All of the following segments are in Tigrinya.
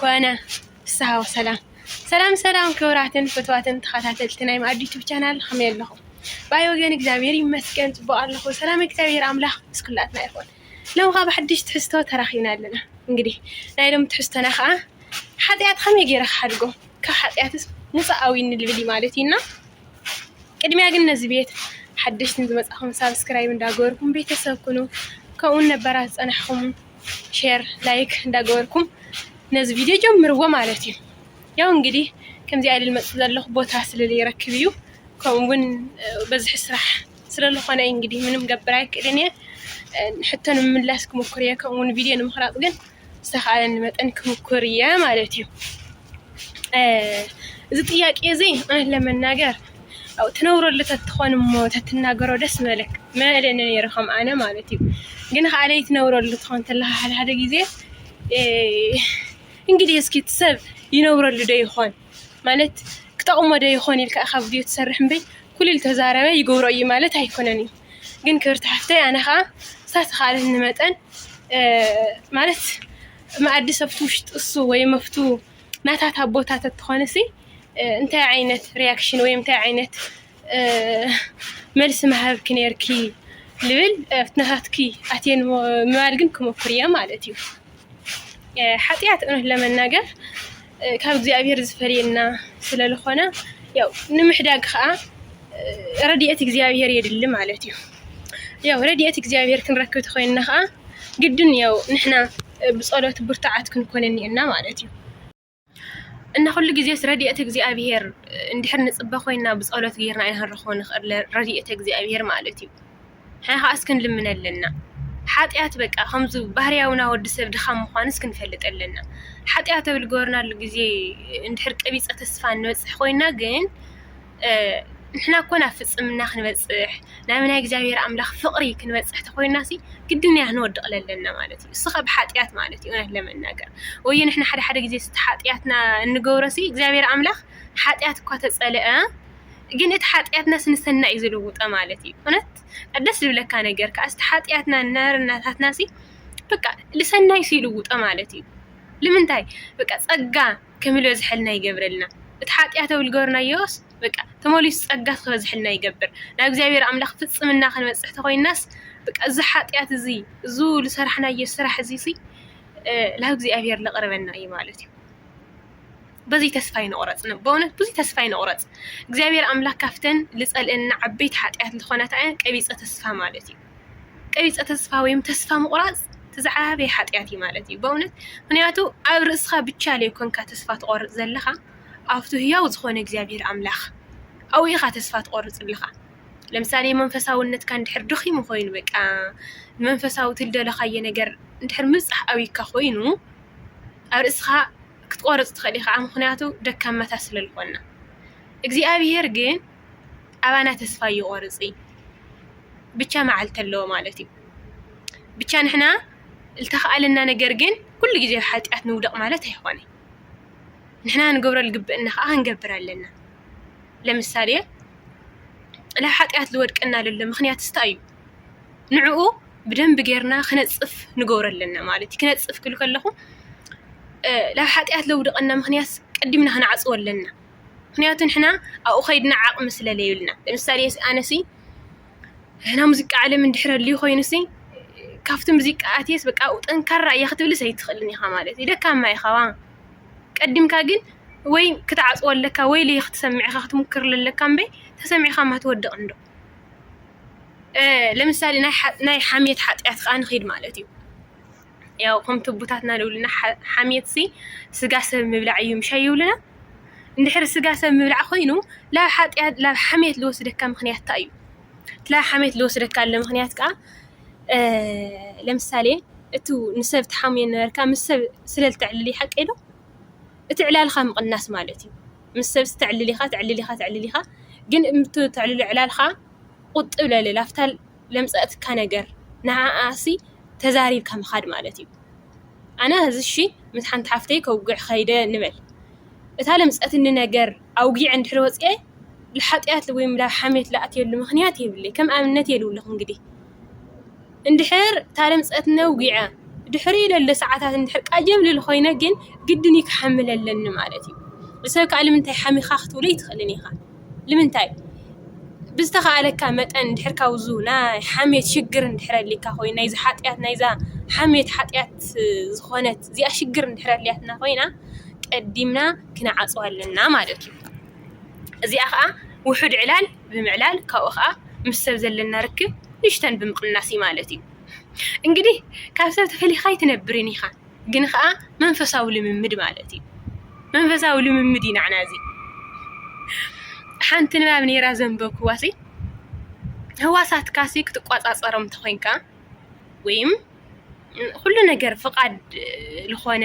ኮነ ፍስሃ ወሰላም ሰላም ሰላም ክብራትን ፍትዋትን ተኸታተልቲ ናይ ማኣዲ ዩቱብ ቻናል ከመይ ኣለኹም? ባይ ወገን እግዚኣብሔር ይመስገን ፅቡቅ ኣለኹ። ሰላም እግዚኣብሔር ኣምላኽ ምስ ኩላትና ይኹን። ሎም ከዓ ብሓድሽ ትሕዝቶ ተራኺብና ኣለና። እንግዲህ ናይ ሎም ትሕዝቶና ከዓ ሓጢኣት ከመይ ገይረ ክሓድጎ ካብ ሓጢኣትስ ሙፃኣዊ ንልብል ማለት እዩና ቅድሚያ ግን ነዚ ቤት ሓደሽቲ ዝመፃኹም ሳብስክራይብ እንዳገበርኩም ቤተሰብ ኩኑ ከምኡውን ነባራት ዝፀናሕኹም ሼር ላይክ እንዳገበርኩም ነዚ ቪድዮ ጀምርዎ ማለት እዩ ያው እንግዲህ ከምዚ ኣይልል መፅ ዘለኹ ቦታ ስለለይረክብ እዩ ከምኡ እውን በዝሒ ስራሕ ስለለኾነ እዩ እንግዲህ ምንም ገብር ኣይክእልን እየ ሕቶ ንምምላስ ክምኩር እየ ከምኡ እውን ቪድዮ ንምክራፅ ግን ዝተኽኣለኒ መጠን ክምኩር እየ ማለት እዩ እዚ ጥያቄ እዚ እውነት ለመናገር ኣብኡ ትነብረሉ ተትኾን እሞ ተትናገሮ ደስ ምበለክ ምበለኒ ነይሩ ከም ኣነ ማለት እዩ ግን ከዓ ዘይትነብረሉ ትኾን ተለካ ሓደ ሓደ ግዜ እንግዲህ እስኪ እቲ ሰብ ይነብረሉ ዶ ይኾን ማለት ክጠቕሞ ዶ ይኾን ኢልካ ኢኻ ቪድዮ ትሰርሕ እምበይ ኩሉ ዝተዛረበ ይገብሮ እዩ ማለት ኣይኮነን እዩ ግን ክብርቲ ሓፍተይ ኣነ ከዓ ዝተኻእለኒ መጠን ማለት መኣዲ ሰብቲ ውሽጢ እሱ ወይ መፍቱ ናታት ኣቦታት ተትኾንሲ እንታይ ዓይነት ሪያክሽን ወይ እንታይ ዓይነት መልሲ ምሃብኪ ነርኪ ልብል ኣብቲ ናታትኪ ኣትየ ምባል ግን ክመኩር እየ ማለት እዩ ሓጢኣት እውነት ለመናገር ካብ እግዚኣብሔር ዝፈልየና ስለልኾነ ያው ንምሕዳግ ከዓ ረድኤት እግዚኣብሄር የድሊ ማለት እዩ ያው ረድኤት እግዚኣብሄር ክንረክብ ተኾይንና ከዓ ግድን ያው ንሕና ብጸሎት ብርቱዓት ክንኮን እኒኤና ማለት እዩ እና ኩሉ ግዜስ ረድኤት እግዚኣብሄር እንድሕር ንጽበ ኮይና ብጸሎት ጌርና ኢና ክንረኽቦ ንኽእል ረድኤት እግዚኣብሄር ማለት እዩ። ሕነኻ እስኪ ንልምን ኣለና ሓጢኣት በቃ ከምዚ ባህርያውና ወዲ ሰብ ድኻም ምዃኑ እስኪ ንፈልጥ ኣለና። ሓጢኣት ኣብ ዝገበርናሉ ግዜ እንድሕር ቀቢፀ ተስፋ ንበፅሕ ኮይና ግን ንሕና እኮ ናብ ፍፅምና ክንበፅሕ ናብ ናይ እግዚኣብሔር ኣምላኽ ፍቕሪ ክንበፅሕ ተኾይናሲ ግድን ኢና ክንወድቕ ለለና ማለት እዩ። እስኻ ብሓጢኣት ማለት እዩ እውነት ለመናገር ወይ ንሕና ሓደ ሓደ ግዜ ስቲ ሓጢኣትና እንገብሮሲ እግዚኣብሔር ኣምላኽ ሓጢኣት እኳ ተፀልአ ግን እቲ ሓጥያትናስ ንሰናይ እዩ ዝልውጦ ማለት እዩ እውነት ደስ ዝብለካ ነገር ከኣስ እቲ ሓጥያትና ናርነታትናሲ በቃ ልሰናይ ሲ ይልውጦ ማለት እዩ ልምንታይ በቃ ጸጋ ከምልበዝሐልና ይገብረልና እቲ ሓጢኣት ኣብ ዝገበርናዮስ በቃ ተመሊሱ ጸጋ ክበዝሐልና ይገብር። ናብ እግዚኣብሔር ኣምላኽ ፍጽምና ክንበጽሕ ተኾይናስ በቃ እዚ ሓጢኣት እዚ እዙ ዝሰራሕናዮ ስራሕ እዚ ናብ እግዚኣብሔር ለቕርበና እዩ ማለት እዩ። በዙይ ተስፋ ኣይንቑረፅ በእውነት ብዙይ ተስፋ ኣይንቑረፅ እግዚኣብሔር ኣምላክ ካብተን ልፀልእና ዓበይቲ ሓጢኣት ዝኾነት ኣያ ቀቢፀ ተስፋ ማለት እዩ ቀቢፀ ተስፋ ወይም ተስፋ ምቑራፅ ትዝዓበየ ሓጢኣት እዩ ማለት እዩ በእውነት ምክንያቱ ኣብ ርእስኻ ብቻ ለይኮንካ ተስፋ ትቖርፅ ዘለኻ ኣብቱ ህያው ዝኾነ እግዚኣብሔር ኣምላኽ ኣብኡ ኢኻ ተስፋ ትቖርፅ ኣለኻ ለምሳሌ መንፈሳውነትካ እንድሕር ድኺሙ ኾይኑ በቃ መንፈሳዊ ትልደለኻዮ ነገር እንድሕር ምብፃሕ ኣብዩካ ኾይኑ ኣብ ርእስኻ ክትቆርፅ ትኽእል ኢኻ ምኽንያቱ ደካማታት ስለ ዝኾንና እግዚኣብሄር ግን ኣባና ተስፋ ይቆርፅ እዩ ብቻ መዓልቲ ኣለዎ ማለት እዩ ብቻ ንሕና ዝተኸኣለና ነገር ግን ኩሉ ግዜ ኣብ ሓጢኣት ንውደቕ ማለት ኣይኾነን ንሕና ንገብሮ ዝግብእና ከዓ ክንገብር ኣለና ለምሳሌ ላብ ሓጢኣት ዝወድቀና ለሎ ምኽንያት እንታይ እዩ ንዕኡ ብደንቢ ጌርና ክነፅፍ ንገብሮ ኣለና ማለት እዩ። ክነፅፍ ክብል ከለኹ ናብ ሓጢኣት ዘውድቐና ምኽንያት ቀዲምና ክንዓፅዎ ኣለና። ምኽንያቱ ንሕና ኣብኡ ከይድና ዓቕሚ ስለ ዘየብልና። ለምሳሌ ኣነሲ ናይ ሙዚቃ ዓለም እንድሕር ኣልዩ ኮይኑሲ ካብቲ ሙዚቃ ኣትየስ በቃ ኣብኡ ጠንካራ እየ ክትብልስ ኣይትኽእልን ኢኻ ማለት እዩ። ደካማ ኢኻ ዋ። ቀዲምካ ግን ወይ ክትዓፅዎ ኣለካ ወይ ለይኽትሰምዕ ኢኻ ክትምኩር ዘለካ እምበይ ተሰሚዕካ እማ ትወድቕ እንዶ። ለምሳሌ ናይ ሓሜት ሓጢኣት ከዓ ንኺድ ማለት እዩ ያው ከምቲ ኣቦታትና ዝብሉና ሓሜት ሲ ስጋ ሰብ ምብላዕ እዩ ምሻ ይብሉና እንድሕር ስጋ ሰብ ምብላዕ ኮይኑ ላብ ሓጢኣት ላብ ሓሜት ዝወስደካ ምኽንያት እንታይ እዩ እቲ ላብ ሓሜት ዝወስደካ ዘሎ ምኽንያት ከዓ ለምሳሌ እቲ ንሰብ ትሓምዮ ዝነበርካ ምስ ሰብ ስለ እተዕልል እዩ ሓቀይ ዶ እቲ ዕላልኻ ምቕናስ ማለት እዩ። ምስ ሰብሲ ተዕልል ኢኻ ተዕልል ኢኻ ተዕልል ኢኻ ግን እምብቲ ተዕልሎ ዕላልኻ ቁጥብ ለለ ላፍታ ለምጸአትካ ነገር ንዓኣሲ ተዛሪብካ ምኻድ ማለት እዩ። ኣነ እዚ እሺ ምስ ሓንቲ ሓፍተይ ከውግዕ ኸይደ ንበል እታ ለምጸትኒ ነገር ኣውጊዐ እንድሕሪ ወጺኤ ልሓጥያት ወይም ላብ ሓሜት ልኣትየሉ ምኽንያት የብለይ ከም ኣብነት እየ ልብለኹ እንግዲህ እንድሕር እታ ለምጸት ነዊዐ ድሕሪኡ ለሎ ሰዓታት እንድሕር ቀጀም ልብል ኮይነ ግን ግድን እዩ ክሓምል ኣለኒ ማለት እዩ። ንሰብ ክኣ ንምንታይ ሓሚኻ ክትብሎ ኣይትኽእልን ኢኻ። ንምንታይ ብዝተኻእለካ መጠን እንድሕር ካብ'ዙ ናይ ሓምየት ሽግር እንድሕር ኣልካ ኮይኑ ናይ'ዛ ሓጥያት ናይ'ዛ ሓምየት ሓጥያት ዝኾነት እዚኣ ሽግር እንድሕር ኣልያትና ኮይና ቀዲምና ክንዓጽዋ ኣለና ማለት እዩ። እዚኣ ከኣ ውሑድ ዕላል ብምዕላል ካብኡ ከኣ ምስ ሰብ ዘለና ርክብ ንእሽተን ብምቕናስ እዩ ማለት እዩ። እንግዲህ ካብ ሰብ ተፈሊኻ ኣይትነብርን ኢኻ፣ ግን ከኣ መንፈሳዊ ልምምድ ማለት እዩ። መንፈሳዊ ልምምድ እዩ ናዕና እዚ። ሓንቲ ንባብ ነይራ ዘንበብክዋሲ ህዋሳትካሲ ክትቋጻጸሮም እንተኾይንካ ወይም ኹሉ ነገር ፍቓድ ዝኾነ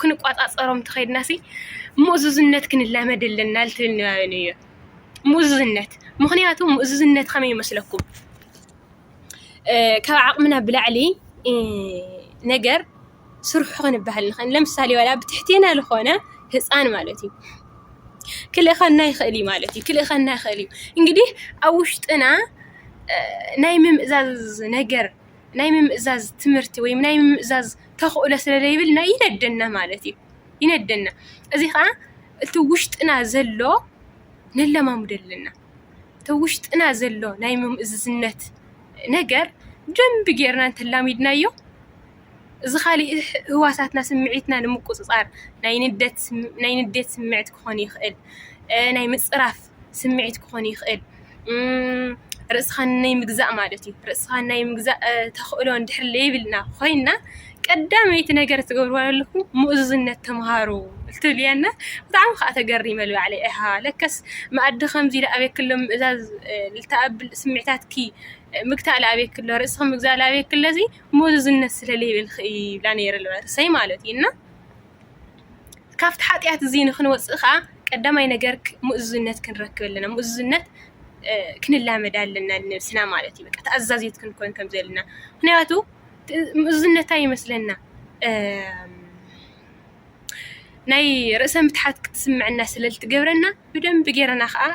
ክንቋፃፀሮም እንተኸይድና ሲ ምእዙዝነት ክንላመድ ኣለና ልትብል ንባበይ ነይረ። ምእዙዝነት ምኽንያቱ ምእዙዝነት ከመይ ይመስለኩም? ካብ ዓቕምና ብላዕሊ ነገር ስርሑ ክንበሃል ንኽእል። ለምሳሌ ዋላ ኣብ ትሕቴና ዝኾነ ህፃን ማለት እዩ ክልእኸና ይኽእል እዩ ማለት እዩ ክልእኸና ይኽእል እዩ እንግዲህ ኣብ ውሽጥና ናይ ምምእዛዝ ነገር ናይ ምምእዛዝ ትምህርቲ ወይ ናይ ምምእዛዝ ተኽእሎ ስለ ዘይብልና ይነደና ማለት እዩ ይነደና እዚ ከዓ እቲ ውሽጥና ዘሎ ነለማምዶ ኣለና እቲ ውሽጥና ዘሎ ናይ ምምእዝዝነት ነገር ደንቢ ጌርና እንተላሚድናዮ እዚ ኻሊእ ህዋሳትና ስምዒትና ንምቁፅፃር ናይ ንደት ናይ ንዴት ስምዒት ክኾን ይኽእል፣ ናይ ምፅራፍ ስምዒት ክኾን ይኽእል፣ ርእስኻ ናይ ምግዛእ ማለት እዩ። ርእስኻ ናይ ምግዛእ ተኽእሎ እንድሕር ለይብልና ኾይንና ቀዳመይቲ ነገር ትገብርዋ ዘለኹም ምእዙዝነት ተምሃሩ እትብልያ እና ብጣዕሚ ከዓ ተገሪመ ባዕለይ ኣሃ ለከስ መኣዲ ከምዚ ኢለ ኣበይ ክሎ ምእዛዝ ልተኣብብል ስምዒታትኪ ምግታእ ለኣበይ ክሎ ርእስኺ ምግዛእ ለኣበይ ክሎ እዚ ምእዙዝነት ስለ ለይብልኪ እዩ ይብላ ነይረ ርእሰይ ማለት እዩ እና ካብቲ ሓጢኣት እዚ ንክንወፅእ ከዓ ቀዳማይ ነገር ምእዙዝነት ክንረክብ ኣለና ምእዙዝነት ክንላመድ ኣለና ንነብስና ማለት እዩ። በቃ ተኣዛዚት ክንኮን ከም ዘለና ምክንያቱ ምእዙዝነታ ይመስለና ናይ ርእሰ ምትሓት ክትስምዐና ስለ ዝትገብረና ብደንቢ ጌርና ኸኣ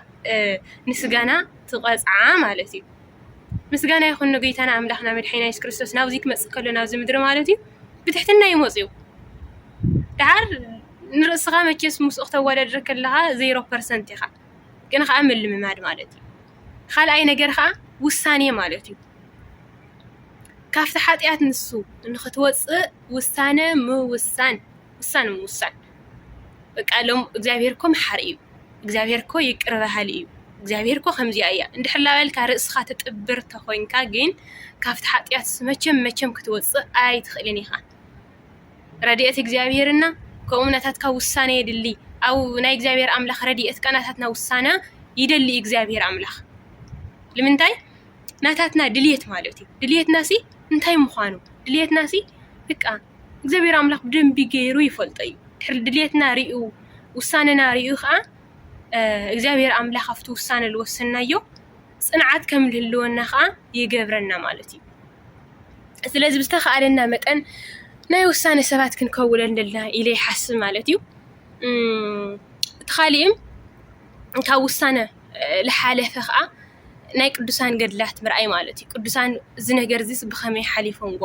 ንስጋና ትቐጽዓ ማለት እዩ። ምስጋና ይኹን ንጎይታና ኣምላኽና መድሓኒና የሱስ ክርስቶስ ናብዚ ክመጽእ ከሎ ናብዚ ምድሪ ማለት እዩ ብትሕትና እዩ መጺኡ። ደሓር ንርእስኻ መቸስ ምስኡ ክተወዳድር ከለኻ ዜሮ ፐርሰንት ኢኻ ግን ኸኣ ምልምማድ ማለት እዩ። ካልኣይ ነገር ኸኣ ውሳኔ ማለት እዩ። ካብቲ ሓጢኣት ንሱ ንኽትወጽእ ውሳነ ምውሳን። ውሳነ ምውሳን በቃ ሎም እግዚኣብሄር እኮ መሓሪ እዩ፣ እግዚኣብሄር እኮ ይቅረ በሃሊ እዩ፣ እግዚኣብሄር እኮ ከምዚኣ እያ እንድሕር ላበልካ ርእስኻ ትጥብር ተኾይንካ ግን ካብቲ ሓጢኣት መቸም መቸም ክትወፅእ ኣይትኽእልን ኢኻ። ረድኤት እግዚኣብሄርና ከምኡ ናታትካ ውሳነ የድሊ ኣብ ናይ እግዚኣብሄር ኣምላኽ ረድኤት ቃ ናታትና ውሳነ ይደሊ እግዚኣብሄር ኣምላኽ ልምንታይ ናታትና ድልየት ማለት እዩ ድልየትና ሲ እንታይ ምዃኑ ድልየትና ሲ በቃ እግዚኣብሔር ኣምላኽ ብደንቢ ገይሩ ይፈልጦ እዩ። ድሕሪ ድሌትና ሪኡ ውሳነና ሪኡ ከዓ እግዚኣብሔር ኣምላኽ ኣብቲ ውሳነ ዝወሰናዮ ፅንዓት ከም ዝህልወና ከዓ ይገብረና ማለት እዩ። ስለዚ ብዝተኸኣለና መጠን ናይ ውሳነ ሰባት ክንከውን ኣለና ኢለ ይሓስብ ማለት እዩ። እቲ ካሊእም ካብ ውሳነ ዝሓለፈ ከዓ ናይ ቅዱሳን ገድላት ምርኣይ ማለት እዩ። ቅዱሳን እዚ ነገር እዚስ ብኸመይ ሓሊፎምዎ፣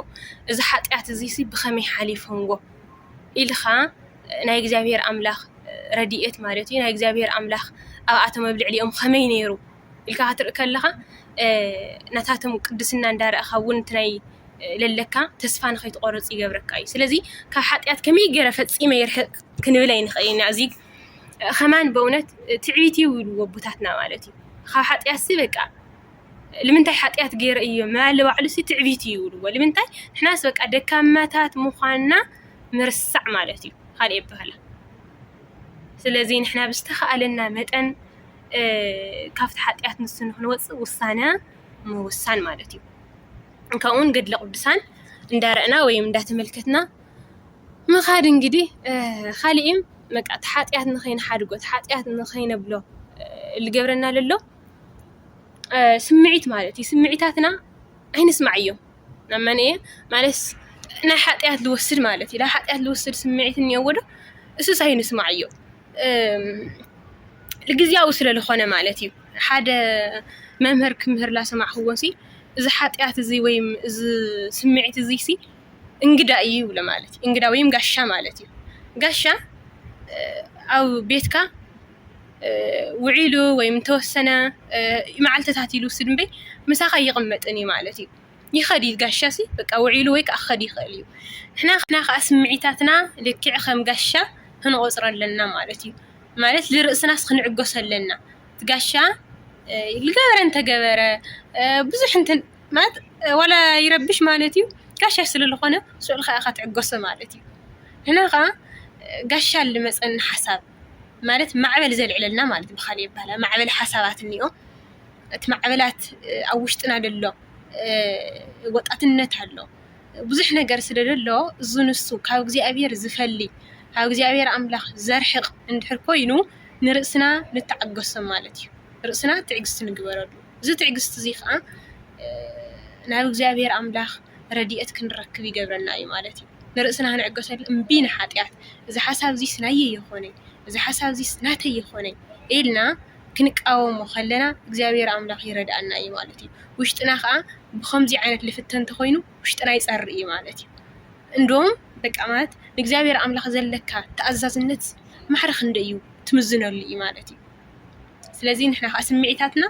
እዚ ሓጢኣት እዚስ ብኸመይ ሓሊፎምዎ ኢልኻ ናይ እግዚኣብሄር ኣምላኽ ረድኤት ማለት እዩ፣ ናይ እግዚኣብሄር ኣምላኽ ኣብኣቶም ኣብ ልዕሊኦም ኸመይ ነይሩ ኢልካ ክትርኢ ከለኻ ናታቶም ቅድስና እንዳረኣኻ እውን እቲ ናይ ለለካ ተስፋ ንኸይትቖርፅ ይገብረካ እዩ። ስለዚ ካብ ሓጢኣት ከመይ ገይረ ፈፂመ ይርሕቕ ክንብል ኣይንኽእልን ኢና። ከማን በእውነት ትዕቢት እዩ ይብልዎ ኣቦታትና ማለት እዩ ካብ ሓጢኣትሲ በቃ ልምንታይ ሓጢኣት ገይረ እየ ምባል ንባዕሉሲ ትዕቢት እዩ ይብልዎ ልምንታይ ንሕናስ በቃ ደካማታት ምዃንና ምርሳዕ ማለት እዩ ካልእ የብሃላ ስለዚ ንሕና ብዝተኻእለና መጠን ካብቲ ሓጢኣት ንሱ ንክንወፅእ ውሳነ ምውሳን ማለት እዩ ከምኡውን ገድለ ቅዱሳን እንዳረእና ወይም እንዳተመልከትና ምኻድ እንግዲህ ኻሊእም በቃ እቲ ሓጥያት ንኸይንሓድጎ እቲ ሓጥያት ንኸይነብሎ ልገብረና ለሎ ስምዒት ማለት እዩ። ስምዒታትና ኣይንስማዓዮም ናብ መን እየ ማለትስ ናይ ሓጥያት ልወስድ ማለት እዩ። ናይ ሓጥያት ልወስድ ስምዒት እኒኦዎ ዶ? እሱስ ኣይንስማዓዮ ግዝያዊ ስለ ልኾነ ማለት እዩ። ሓደ መምህር ክምህር ላሰማዕኽዎሲ እዚ ሓጥያት እዚ ወይም እዚ ስምዒት እዙይሲ እንግዳ እዩ ይብሉ ማለት እዩ። እንግዳ ወይም ጋሻ ማለት እዩ። ጋሻ ኣብ ቤትካ ውዒሉ ወይም ተወሰነ መዓልትታት ኢሉ ውስድ እምበይ ምሳኻ ኣይቕመጥን እዩ ማለት እዩ። ይኸዲ ጋሻ ሲ በቃ ውዒሉ ወይ ከዓ ክኸዲ ይኽእል እዩ። ንሕና ከዓ ስምዒታትና ልክዕ ከም ጋሻ ክንቆፅሮ ኣለና ማለት እዩ። ማለት ልርእስናስ ክንዕገሶ ኣለና። እቲ ጋሻ ዝገበረ እንተገበረ ብዙሕ እንተ ማለት ዋላ ይረብሽ ማለት እዩ ጋሻ ስለ ዝኾነ ሽዑ ኢልካ ኢኻ ትዕገሶ ማለት እዩ። ንሕና ከኣ ጋሻ ኣሉ መጸኒ ሓሳብ ማለት ማዕበል ዘልዕለልና ማለት እዩ ብኻልእ ኣበሃህላ ማዕበል ሓሳባት እንኦ እቲ ማዕበላት ኣብ ውሽጥና ዘሎ ወጣትነት ኣሎ ብዙሕ ነገር ስለ ዘሎ እዚ ንሱ ካብ እግዚኣብሄር ዝፈሊ ካብ እግዚኣብሄር ኣምላኽ ዘርሕቕ እንድሕር ኮይኑ ንርእስና ንተዓገሶ ማለት እዩ። ርእስና ትዕግስቲ ንግበረሉ። እዚ ትዕግስቲ እዚ ከኣ ናብ እግዚኣብሔር ኣምላኽ ረድኤት ክንረክብ ይገብረና እዩ ማለት እዩ። ንርእስና ክንዕገሰሉ እምቢ ንሓጢኣት እዚ ሓሳብ እዚስ ናየይ ይኾነይ እዚ ሓሳብ እዚስ ናተይ ይኾነይ ኢልና ክንቃወሞ ከለና እግዚኣብሔር ኣምላኽ ይረድኣና እዩ ማለት እዩ። ውሽጥና ከኣ ብኸምዚ ዓይነት ልፍተን እንተኾይኑ ውሽጥና ይጸሪ እዩ ማለት እዩ። እንዶም በቃ ማለት ንእግዚኣብሔር ኣምላኽ ዘለካ ተኣዛዝነት ማዕረ ክንደይ እዩ ትምዝነሉ እዩ ማለት እዩ። ስለዚ ንሕና ከኣ ስምዒታትና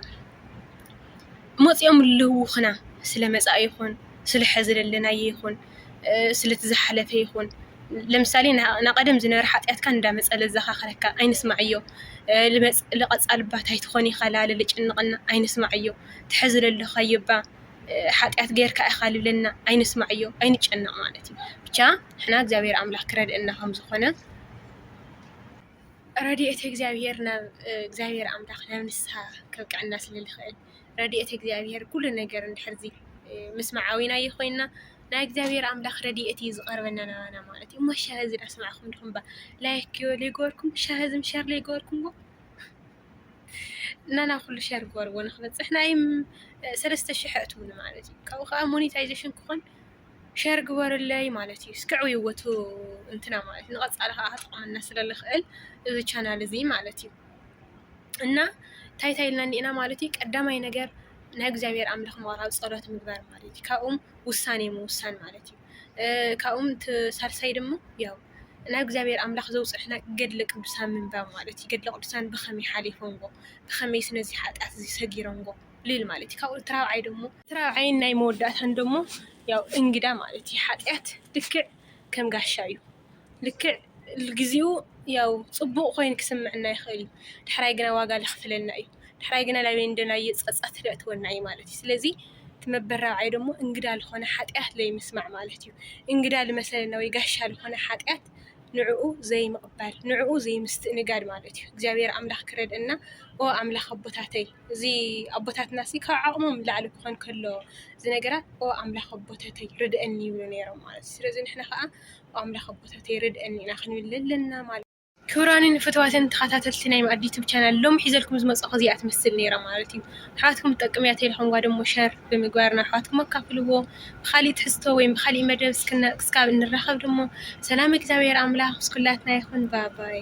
መጺኦም ለልውኹና ስለ መጻኢ ይኹን ስለ ሐዚ ለለናዮ ይኹን ስለቲ ዝሓለፈ ይኹን ለምሳሌ ናይ ቀደም ዝነበረ ሓጥያትካ እንዳመጸ ለዛኻኽረካ ኣይንስማዕዮ ልቀጻሊ እባ ታይ ትኾን ኢኻ እባ ለልጭንቀና ኣይንስማዕዮ እቲ ሐዚ ለለኻዮ እባ ሓጥያት ጌርካ ኢኻ ልብለና ኣይንስማዕዮ ኣይንጨነቅ ማለት እዩ ብቻ ንሕና እግዚኣብሔር ኣምላክ ክረድኤና ከምዝኾነ ረድኤተ እግዚኣብሔር ናብ እግዚኣብሔር ኣምላኽ ናብ ንስሓ ከብቅዐና ስለ ዝኽእል ረድኤተ እግዚኣብሔር ኩሉ ነገር እንድሕር ምስማዓዊናዮ ኮይንና ናይ እግዚኣብሔር ኣምላኽ ረድኤት እዩ ዝቐርበና ናባና ማለት እዩ። እሞ ሻሂ እዚ ዳሰማዕኹም ድኹም ባ ላይክ ዘይገበርኩም ሻሂ እዚ ሸር ዘይገበርኩም ባ እና ናብ ኩሉ ሸር ግበርዎ ንክበፅሕ ናይ ሰለስተ ሽሕ ኣእትውኒ ማለት እዩ። ካብኡ ከዓ ሞኔታይዜሽን ክኾን ሸር ግበርለይ ማለት እዩ። እስክዕ ይወቱ እንትና ማለት ንቐፃሊ ከዓ ክጠቕመና ስለ ዝኽእል እዚ ቻናል እዚ ማለት እዩ እና እንታይ እንታይ ኢልና እንዲና ማለት እዩ ቀዳማይ ነገር ናይ እግዚኣብሔር ኣምላኽ ምቕራብ ፀሎት ምግባር ማለት እዩ። ካብኡም ውሳኔ ምውሳን ማለት እዩ። ካብኡም ሳልሳይ ድማ ያው ናይ እግዚኣብሔር ኣምላኽ ዘውፅሕና ገድለ ቅዱሳን ምንባብ ማለት እዩ። ገድለ ቅዱሳን ብኸመይ ሓሊፎምዎ ብኸመይ ስነዚ ሓጢኣት እዚ ሰጊሮምዎ ልል ማለት እዩ። ካብኡ እቲ ራብዓይ ደግሞ ራብዓይን ናይ መወዳእታን ደሞ ያው እንግዳ ማለት እዩ። ሓጢኣት ልክዕ ከም ጋሻ እዩ። ልክዕ ግዜኡ ያው ጽቡቕ ኮይኑ ክስምዕና ይኽእል እዩ። ዳሕራይ ግና ዋጋ ለኽፍለና እዩ። ዳሕራይ ግና ላበይ እንደናየ ጸጸት ለእትወና እዩ ማለት እዩ። ስለዚ እቲ መበል ራብዓይ ደሞ እንግዳ ዝኾነ ሓጢኣት ለይምስማዕ ማለት እዩ። እንግዳ ልመሰለና ወይ ጋሻ ዝኾነ ሓጢኣት ንዕኡ ዘይምቕባል ንዕኡ ዘይምስትእንጋድ ማለት እዩ። እግዚኣብሔር ኣምላኽ ክረድእና ኦ ኣምላኽ ኣቦታተይ እዚ ኣቦታትና እዚ ካብ ዓቅሞም ንላዕሊ ክኾን ከሎ እዚ ነገራት ኦ ኣምላክ ኣቦታተይ ርደኣኒ ይብሉ ኔሮም ማለት እዩ። ስለዚ ንሕና ከኣ ኦ ኣምላክ ኣቦታተይ ርደኣኒ ኢና ክንብል ዘለና ማለት እዩ። ክቡራንን ፍትዋትን ተኸታተልቲ ናይ መኣዲ ዩቱብ ቻናል ሎሚ ሒዘልኩም ዝመጻኹ እዚኣ ትመስል ኔራ ማለት እዩ። ኣሕዋትኩም ትጠቅም እያ ተኢልኹምዋ ደሞ ሸር ብምግባር ንኣሕዋትኩም ኣካፍልዎ። ብኻሊእ ትሕዝቶ ወይም ብኻሊእ መደብ እስካብ እንራኸብ ደሞ ሰላም እግዚኣብሔር ኣምላክ ምስ ኩላትና ይኹን ባባይ።